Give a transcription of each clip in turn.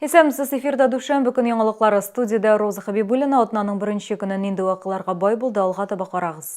Исәмсез эфирда дүшәмбе көн яңалыклары студиядә Роза Хабибуллина атнаның беренче көне нинди вакыйларга бай булды алга таба карагыз.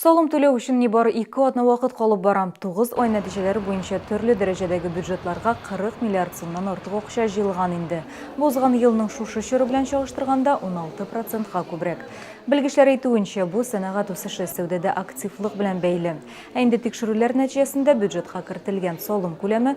Салым түләү өчен нибары ике атна вакыт калып бара. 9 ай нәтиҗәләре буенча төрле дәрәҗәдәге бюджетларга 40 миллиард сумнан артык акча җыелган инде. Бу узган елның шушы чоры белән чагыштырганда 16 процентка күбрәк. Белгечләр әйтүенчә, бу сәнәгать үсеше, сәүдәдә активлык белән бәйле. Ә инде тикшерүләр нәтиҗәсендә бюджетка кертелгән салым күләме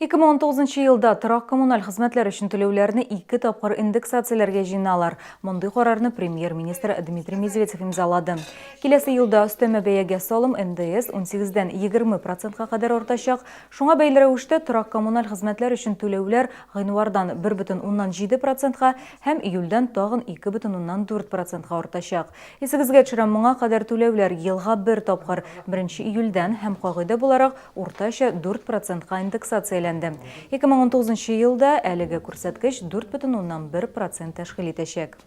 2019 елда торак-коммуналь хезмәтләр өчен түләүләрне ике тапкыр индексацияләргә җыеналар. Мондый карарны премьер-министр Дмитрий Медведев имзалады. Киләсе елда өстәмә бәягә салым НДС 18-дән 20 процентка кадәр артачак. Шуңа бәйле рәвештә торак-коммуналь хезмәтләр өчен түләүләр гыйнвардан 1,7 процентка һәм июльдән тагын 2,4 процентка артачак. Исегезгә төшерәм, моңа кадәр түләүләр елга бер тапкыр, 1 июльдән һәм кагыйдә буларак уртача дүрт процентка индексацияләнде. 2019 нчы елда әлеге күрсәткеч дүрт бөтен уннан бер процент тәшкил итәчәк.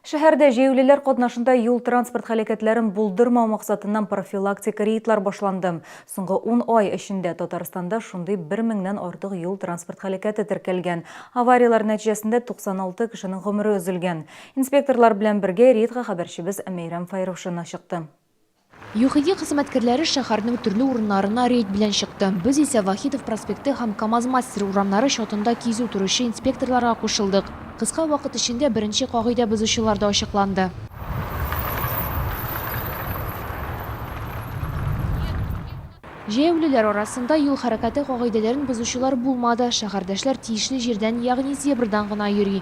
Шәһәрдә җәяүлеләр катнашында юл-транспорт һәлакәтләрен булдырмау максатыннан профилактик рейдлар башланды. Соңгы ун ай эчендә Татарстанда шундый бер меңнән артык юл-транспорт һәлакәте теркәлгән. Аварияләр нәтиҗәсендә 96 кешенең гомере өзелгән. Инспекторлар белән бергә рейдка хәбәрчебез Мәйрәм Фәйрушина чыкты. ЮХИДИ хезмәткәрләре шәһәрнең төрле урыннарына рейд белән чыкты. Без исә Вахитов проспекты һәм КАМАЗ-Мастер урамнары чатында кизү торучы инспекторларга кушылдык. Кыска вакыт эчендә беренче кагыйдә бозучылар да ачыкланды. Җәяүлеләр арасында юл хәрәкәте кагыйдәләрен бозучылар булмады. Шәһәрдәшләр тиешле җирдән, ягъни зебрадан гына йөри.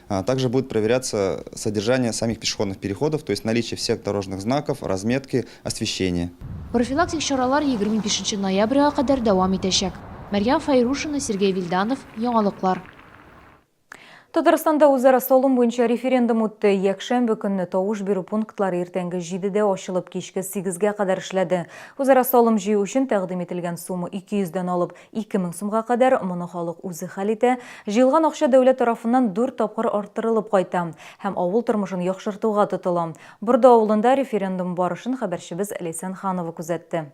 А также будет проверяться содержание самих пешеходных переходов, то есть наличие всех дорожных знаков, разметки, освещения. Профилактик чаралар 25 ноябрьгә кадәр дәвам итәчәк. Мәрьям Файрушина, Сергей Вильданов, Яңалыклар. Татарстанда үзара салым буенча референдум үтте. Якшәмбе көнне тавыш бирү пунктлары иртәнге 7-дә ачылып, кичке 8-гә кадәр эшләде. Үзара салым җыю өчен тәкъдим ителгән сумма 200 дән алып, Ике мең сумга кадәр, моны халык үзе хәл итә, җыелган акча дәүләт тарафыннан дүрт тапкыр арттырылып кайта һәм авыл тормышын яхшыртуга тотыла. Борды авылында референдум барышын хәбәрчебез Ләйсән Ханова күзәтте.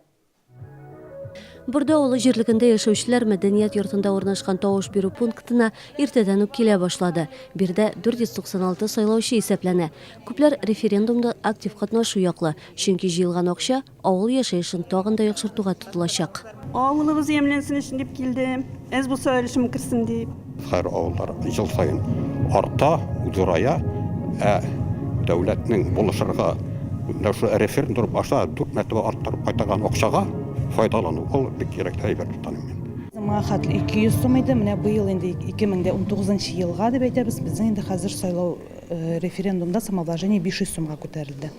Борды авылы җирлегендә яшәүчеләр мәдәният йортында урнашкан тавыш бирү пунктына иртәдән үк килә башлады. Биредә 496 сайлаучы исәпләнә. Күпләр референдумда актив катнашу яклы, чөнки җыелган акча, Авыл яшәешен тагын да яхшыртуга тотылачак. Авылыбыз ямьләнсен өчен дип килдем. Әз булса өлешем керсен дип. Хәер, авыллар ел саен арта, зурая, ә дәүләтнең булышырга, менә шул референдум аша дүрт мәртәбә арттырып кайтарган акчага файдалану, ул бик кирәкле әйбер дип таныйм мин. Соңга хәтле 200 сум иде, менә быел инде 2019 нчы елга дип әйтәбез, безнең инде хәзер сайлау, референдумда самовложение 500 сумга күтәрелде.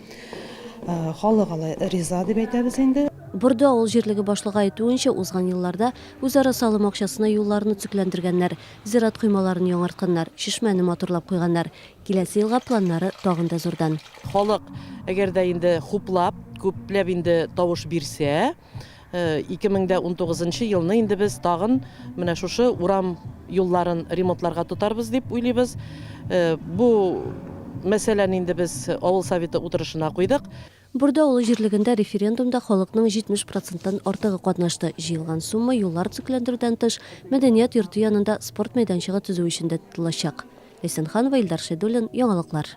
Халык алай риза дип әйтәбез инде. Борды авыл җирлеге башлыгы әйтүенчә, узган елларда үзара салым акчасына юлларны төзекләндергәннәр, зират коймаларын яңартканнар, чишмәне матурлап куйганнар. Киләсе елга планнары тагын да зурдан. Халык, әгәр дә инде хуплап, күпләп инде тавыш бирсә. 2019 э, елны инде без тагын менә шушы урам юлларын ремонтларга тотарбыз дип уйлыйбыз. Э, бу мәсьәләне инде без авыл советы утырышына куйдык. Бурда олы җирлегендә референдумда халыкның 70 проценттан артыгы катнашты. Җыелган сумма юллар төзекләндерүдән тыш, мәдәният йорты янында спорт мәйданчыгы төзү өчен дә тотылачак. Ләйсән Ханова, Илдар Шәйдуллин, яңалыклар.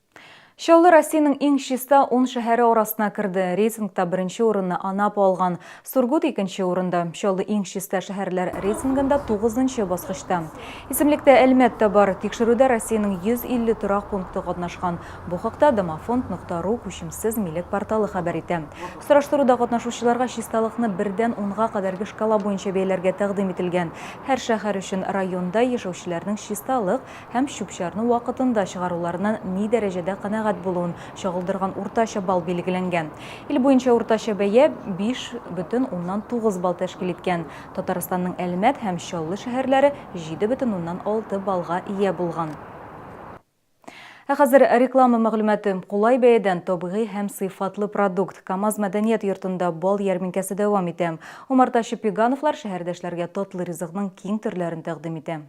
Чаллы Россиянең иң чиста ун шәһәре арасына керде. Рейтингта беренче урынны Анапа алган. Сургут икенче урында. Чаллы иң чиста шәһәрләр рейтингында тугызынчы баскычта. Исемлектә Әлмәт тә бар. Тикшерүдә Россиянең 150 торак пункты катнашкан. Бу хакта domoфонд.ру күчемсез милек порталы хәбәр итә. Сораштыруда катнашучыларга чисталыкны бердән унга кадәрге шкала буенча бәяләргә тәкъдим ителгән. Һәр шәһәр өчен районда яшәүчеләрнең чисталык һәм чүп-чарны вакытында чыгаруларыннан ни дәрәҗәдә канәгать булуын чагылдырган уртача балл билгеләнгән. Ил буенча уртача бәя 5,9 балл тәшкил иткән. Татарстанның Әлмәт һәм Чаллы шәһәрләре 7,6 баллга ия булган. Ә хәзер реклама мәгълүматы. Кулай бәядән табигый һәм сыйфатлы продукт. КАМАЗ мәдәният йортында бал ярминкәсе дәвам итә. Умартачы Пегановлар шәһәрдәшләргә татлы ризыкның киң төрләрен тәкъдим итә.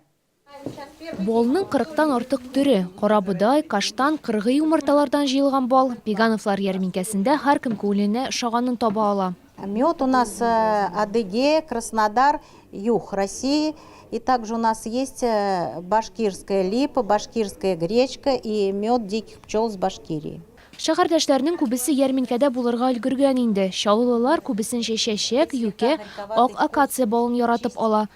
Балның кырыктан артык төре, карабодай, каштан, кыргый юмарталардан җыелган бал, Пегановлар ярминкәсендә һәркем күңеленә ошаганын таба ала. Мед у нас Адыге, Краснодар, юг России и также у нас есть башкирская липа, башкирская гречка и мед диких пчел с Башкирии. Шәһәрдәшләрнең күбесе ярминкәдә булырга өлгергән инде. Чаллылылар күбесенчә чәчәк, юкә, ак акация балын яратып ала.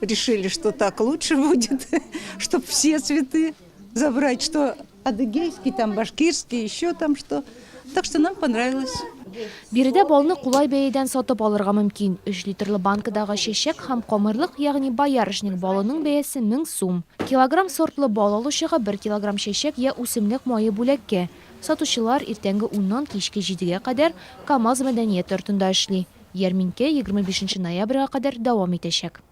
решили, что так лучше будет, чтобы все цветы забрать, что адыгейский, там башкирский, еще там что. Так что нам понравилось. Биредә балны кулай бәядән сатып алырга мөмкин. 3 литрлы банкадагы чәчәк һәм камырлык, ягъни боярышник балының бәясе 1000 сум. Килограмм сортлы бал алучыга 1 килограмм чәчәк я үсемлек мае бүләккә. Сатучылар иртәнге 10 нан кичке 7 гә кадәр КАМАЗ мәдәният йортында эшли. Ярминкә егерме бишенче ноябрьгә кадәр дәвам итәчәк.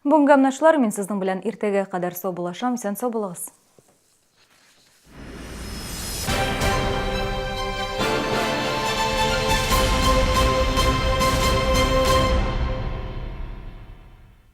Бүгенге амнашлар, мин сезнең белән иртәгә кадәр сау булашам, исән сау булыгыз.